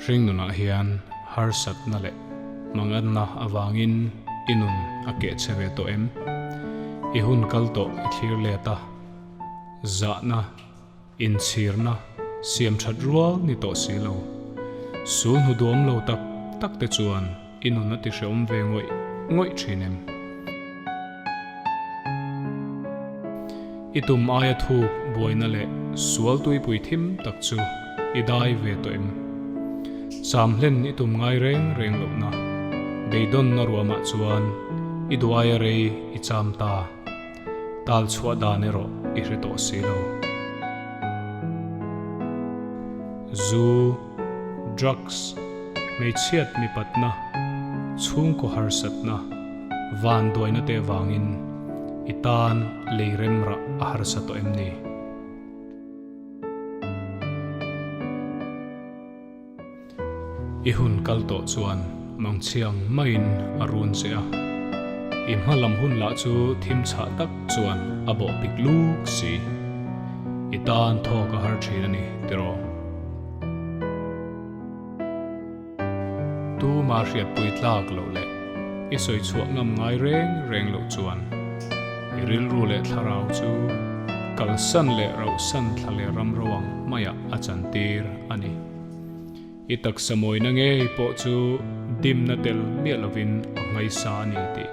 Hringnunah hian harsatna leh hmangatna avangin i nun a keh che ve tawh em? I hun kal tawh i thlir let a, zahna, inchhirna siam that rual ni tawh si lo. Sul hnuduam lo tak takte chuan. I nun a ti hreawm ve ngawih ngawih thin em? I tum aia thuk buaina leh sual tuipui thim tak chu i dai ve tawh em? Cham hlen i tum ngai reng reng lohna beidawnna ruamah chuan i duaia rei i cham ta tal chhuah dan erawh i hre tawh si lo. Zu. drugs, hmeichhiat mipatna, chhungkaw harsatna, van duaina te avangin i tan lei remrah a harsa tawh em ni? I hun kal tawh chuan Mangchiang maiin a run che a, i hma lam hun lah chu thim chhah tak chuan a bawhpik lûk si. I tan thawk a har thin a ni tiraw? Tuma hriatpui tlak loh leh i sawi chhuah ngam ngai reng reng loh chuan i rilru leh thlarau chu kalsan leh rauhsan thla leh ram ro ang hmaiah a chantir a ni. I taksa mawina ngei pawh chu dimna tel miah lovin a hmaisa a ni tih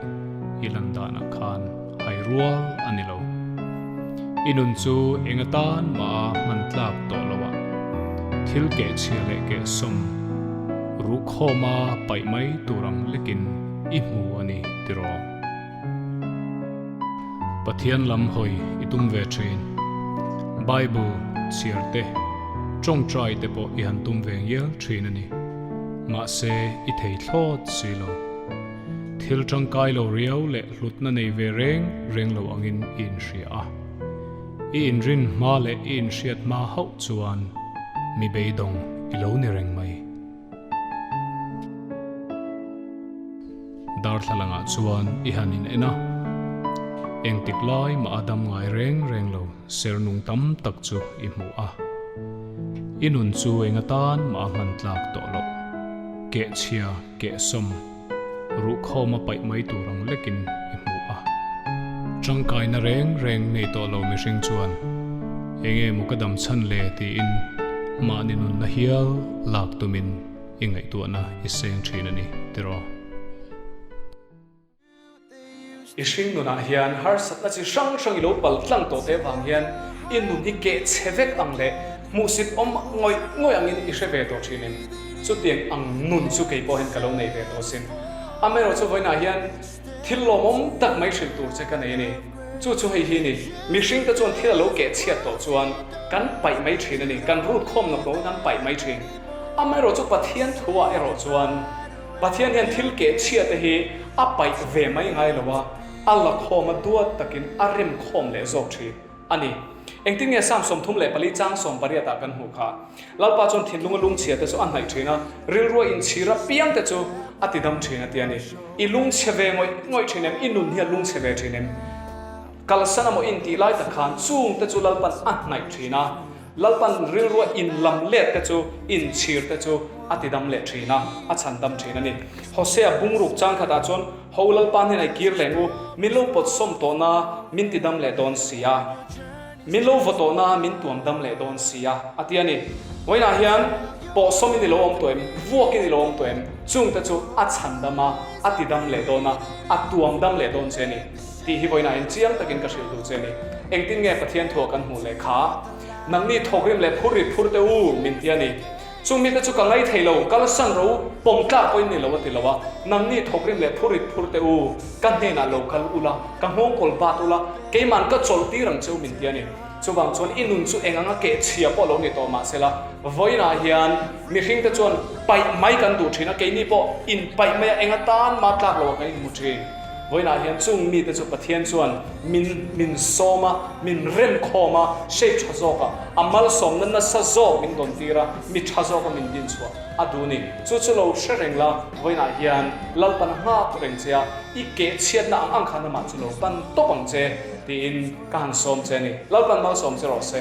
i lan danah khan. Hai rual a ni lo. I nun chu enga tan maha hman tlak tawh lo a, thil keh chhia leh keh sawm ruhkhawma paih mai tur ang lekin i hmu a ni tirawm. Pathian lam hawi i tum ve thin. Bible chhiar te, tawngtai te pawh i han tum ve ngial thin a ni. Mahse i thei thlawt si lo. Thil tangkai lo riau leh hlutna nei ve reng reng lo angin i inhria a. I inrin hma leh i inhriat hma hauh chuan mi beidawng i lo ni reng mai. Darthlalangah chuan i han in en a, engtik lai mah a dam ngai reng reng lo. Sernung tam tak chu i hmuh a. I nun chu enga tan mah a hman tlak tawh loh. Keh chhia, keh sawm, ruh khawm a paih mai tur ang lekin i hmuh a. Tangkaina reng reng nei tawh lo mihring chuan eng emaw ka dam chhan le tiin mahni nunna hial lak tumin i ngaihtuahna i seng thin a ni tiraw. I hring nunah hian harsatna chi hrang hrang i lo pal tlang tawh te vang hian i nun hi keh chhe vek ang leh hmuhsit awm ngawih ngawih angin i hre ve tawh thin em? Chutiang ang nun chu kei pawhin ka lo nei ve tawh sin. Amaherawh chu vawiinah hian thil lawmawm tak mai hrilh tur che ka nei a ni. Chu chu hei hi a ni, mihring te chuan thil a lo keh chhiat tawh chuan kan paih mai thin a ni, kan rut khawm nawk nawkin an paih mai thin. Amaherawh chu Pathian thu ah erawh chuan Pathian hian thil keh chhia te hi a paih ve mai ngai lo a, a lakhawm a duat takin a rem khawm leh zawk ṭhi a ni. Engtin nge Salm sawmthum leh pali chang sawm pariat ah kan hmuh kha? Lalpa chuan thinlung a lung chhia te chu a hnaih ṭhin a, rilruah in chhir a piang te chu a ti dam ṭhin a ti a ni. I lung chhe ve ngawih ngawih ṭhin em? I nun hi a lung chhe ve ṭhin em? Kalsan emaw in tih lai tak khan chung te chu Lalpan a hnaih ṭhin a. Lalpan rilrua in lam let te chu in chhir te chu a ti dam leh thin a, a chhan dam thin a ni. Hosea bungruk chang khat ah chuan, Ho Lalpan hian ai kir leng u, min lo pawt sawm tawh na min ti dam leh dawn si a, min lo vaw tawh na min tuam dam leh dawn si a, a ti a ni. Vawiin ah hian pawh sawm in i lo awm tawh em, vuak in i lo awm tawh em, chung te chu a chhan dam a, a ti dam leh dawn a, a tuam dam leh dawn che a ni. Tih hi vawiin a enchiang takin ka hrilh duh che ni. Engtin nge Pathian thu a kan hmuh leh kha? Nang mi thawkrim leh phur ri phur te u min ti a ni. Chu mi te chu ka ngai thei lo, kalsan ro, pawm tlak pawhin ni lo a ti lo a. Nang mi thawkrim leh phur ri phur te u, ka hnenah lo kal ula, ka nghawngkawl bat ula, keiman ka chawlh tir ang che u min ti a ni. Chuvang chuan i nun chu eng anga keh chhia pawh lo ni tawh mah sela, vawiin ah hian mihring te chuan paih mai kan duh thin a, keini pawh in paih mai a, enga tan ma tlak lo a kan in hmu thin. Vawiinah hian chung mite chu Pathian chuan min min sawm a, min rem khawm a, shape tha zawk a, a malsawmna nasa zawk min dawn tir a, mi tha zawk a min din chhuah a dun i, chu chu lo hre reng la, vawiinah hian lalpana nghak reng che a, i keh chhiatna ang ang khan amah chu lo pan tawp ang che tiin ka han sawm che a ni. Lalpan malsawm che rawh se.